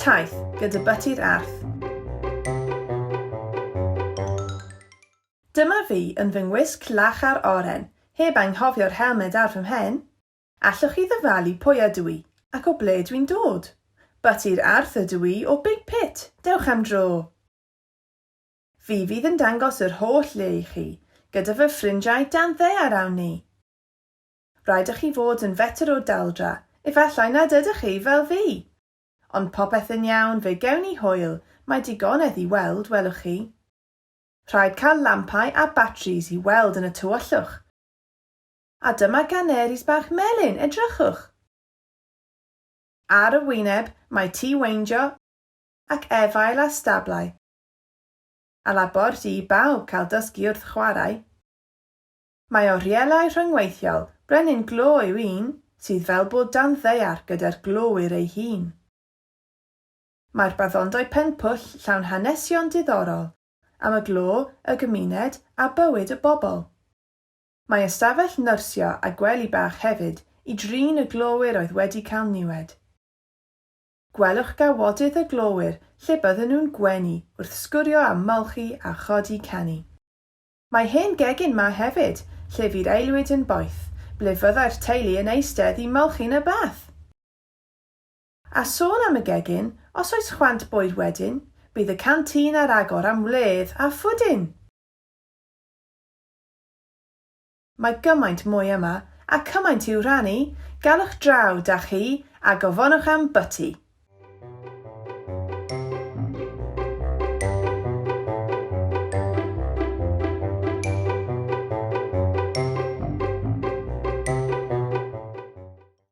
Taith gyda byty'r arth. Dyma fi yn fy ngwisg lach a'r oren, heb anghofio'r helmed ar fy mhen. Allwch chi ddyfalu pwy ydw i, ac o ble dwi'n dod? Byty'r arth ydw i o Big Pit, dewch am dro! Fi fydd yn dangos yr holl le i chi, gyda fy ffrindiau dan ddaear awn ni! Rhaid â chi fod yn fetr o daldra, efallai nad ydych chi, fel fi! Ond popeth yn iawn, fe gewn ni hwyl, mae digonedd i weld, welwch chi. Rhaid cael lampau a batris i weld yn y tywyllwch. A dyma ganeris bach melyn, edrychwch! Ar y wyneb mae tŷ weindio ac efail a stablau. A labord i bawb cael dysgu wrth chwarae. Mae orielau rhyngweithiol brenin glo yw un sydd fel bod dan ddaear gyda'r glowyr ei hun. Mae'r baddondai Pen-pwll llawn hanesion diddorol am y glo, y gymuned a bywyd y bobl. Mae ystafell nyrsio a gwely bach hefyd i drin y glowyr oedd wedi cael niwed. Gwelwch gawodydd y glowyr lle bydden nhw'n gwenu wrth sgwrio a molchi a chodi canu. Mae hen gegin 'ma hefyd, lle fydd aelwyd yn boeth, ble fyddai'r teulu yn eistedd i molchi'n y bath! A sôn am y gegin, os oes chwant bwyd wedyn, bydd y canteen ar agor am wledd a phwdin! Mae gymaint mwy yma, a cymaint i'w rhannu, galwch draw, da chi, a gofonwch am bwti!